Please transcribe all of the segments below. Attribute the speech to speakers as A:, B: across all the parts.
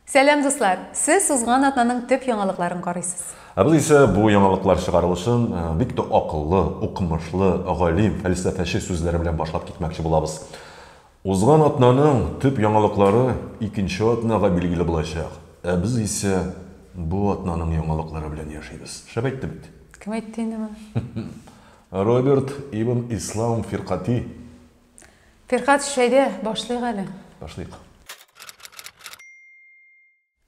A: Сәлам, дуслар! Сез узган атнаның төп яңалыкларын карыйсыз. Ә без исә бу яңалыклар чыгарылышын э, бик тә акыллы, укымышлы, галим, фәлсәфәче сүзләре белән башлап китмәкче булабыз. Узган атнаның төп яңалыклары икенче атнага билгеле булачак. Ә без исә бу атнаның яңалыклары белән яшибез. Шәп әйтте бит. Кем әйтте инде моны? Роберт ибн Ислам фиркати. Фирхат, шәйдә, башлыйк әле. Башлыйк.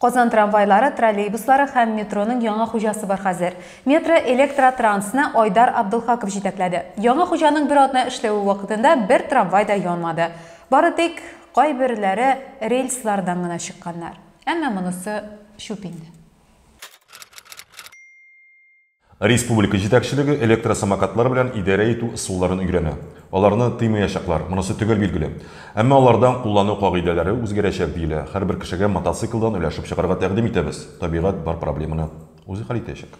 A: Казан трамвайлары, троллейбуслары һәм метроның яңа хуҗасы бар хәзер. Метро Электротрансны Айдар Абдулхаков җитәкләде. Яңа хуҗаның бер атна эшләве вакытында бер трамвай да янмады. Бары тик кайберләре рельслардан гына чыкканнар. Әмма монысы чүп инде. Республика җитәкчелеге электросамокатлар белән идарә итү ысулларын өйрәнә. Аларны тыймаячаклар, монысы төгәл билгеле. Әмма алардан куллану кагыйдәләре үзгәрәчәк, диелә. Һәрбер кешегә мотоциклдан өләшеп чыгарга тәкъдим итәбез. Табигать бар проблеманы үзе хәл итәчәк.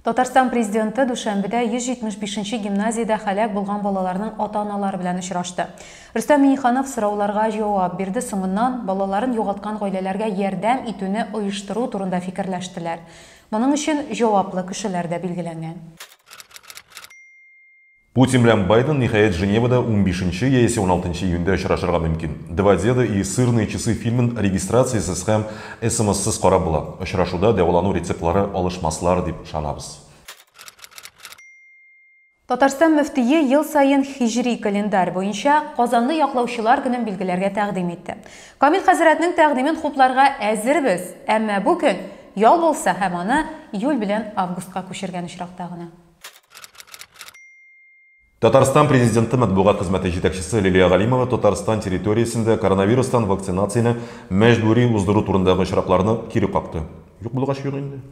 A: Татарстан Президенты дүшәмбедә 175 нче гимназиядә һәлак булган балаларның ата-аналары белән очрашты. Рөстәм Миңнеханов сорауларга җавап бирде, соңыннан балаларын югалткан гаиләләргә ярдәм итүне оештыру турында фикерләштеләр. Моның өчен җаваплы кешеләр дә билгеләнгән. Путин белән Байден, ниһаять, Женевада унбишенче яисә уналтынчы июньдә очрашырга мөмкин. Два деда и сырные часы фильмын регистрациясез һәм смссыз карап була. Очрашуда дәвалану рецептлары алышмаслар дип ышанабыз. Татарстан мөфтие ел саен һиҗри календарь буенча Казанны яклаучылар көнен билгеләргә тәкъдим итте. Камил хәзрәтнең тәкъдимен хупларга әзербез, әмма бу көн ял булса һәм аны июль белән августка күчергән очракта гына. Татарстан президенты матбугат хезмәте җитәкчесе Лилия Галимова Татарстан территориясендә коронавирустан вакцинацияне мәҗбүри уздыру турындагы очракларны кире какты. Юк булгач юк инде.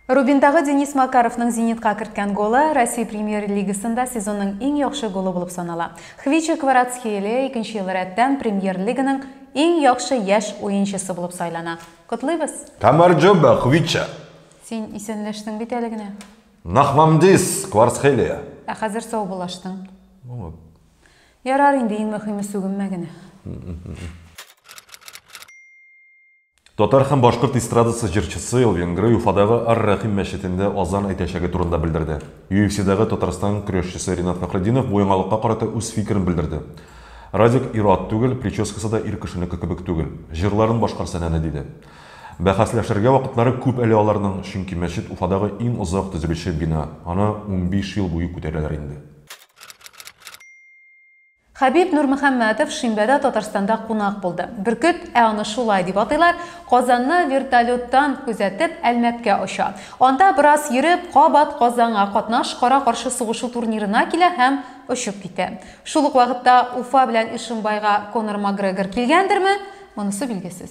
A: Рубиндагы Денис Макаровның Зенитка керткән голы Россия Премьер-лигасында сезонның иң яхшы голы булып санала. Хвичик Кварацхелия икенче ел рәттән Премьер-лиганың иң яхшы яшь уенчысы булып сайлана. Котлыйбыз! Тамарджоба Хвича! Син исәнләштең бит әле генә. Нахмамдис, Кварцхелия. Ә хәзер саубуллаштың. Булып. Ярар инде, иң мөхиме сүгенмә генә. Татар һәм башкорт эстрадасы җырчысы Элвин Грей Уфадагы Ар-Рәхим мәчетендә азан әйтәчәге турында белдерде. UFC-дагы Татарстан көрәшчесе Ринат Фәхретдинов бу яңалыкка карата үз фикерен белдерде. Радик ир-ат түгел, прическасы да ир кешенеке кебек түгел. Җырларын башкарса нәни диде. Бәхәсләшергә вакытлары күп әле аларның, чөнки мәчет Уфадагы иң озак төзелүче бина, аны унбиш ел буе күтәрәләр инде. Хәбиб Нурмөхәммәтов шимбәдә Татарстанда кунак булды. Бөркет, ә аны шулай дип атыйлар, Казанны вертолеттан күзәтеп, Әлмәткә оча. Анда бераз йөреп, кабат Казанга, катнаш кара-каршы сугышу турнирына килә һәм очып китә. Шул ук вакытта Уфа белән Ишимбайга Конор Макгрегор килгәндерме, монысы билгесез.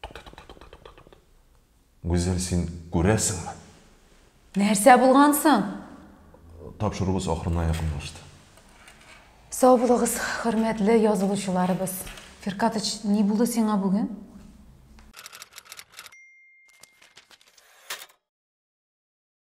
A: Тукта, тукта, тукта, тукта, тукта. Гүзәл, син күрәсеңме? Нәрсә булган соң? Тапшыруыбыз ахырына якынлашты. Сау булыгыз, хөрмәтле язылучыларыбыз. Фиркатыч, ни булды сиңа бүген?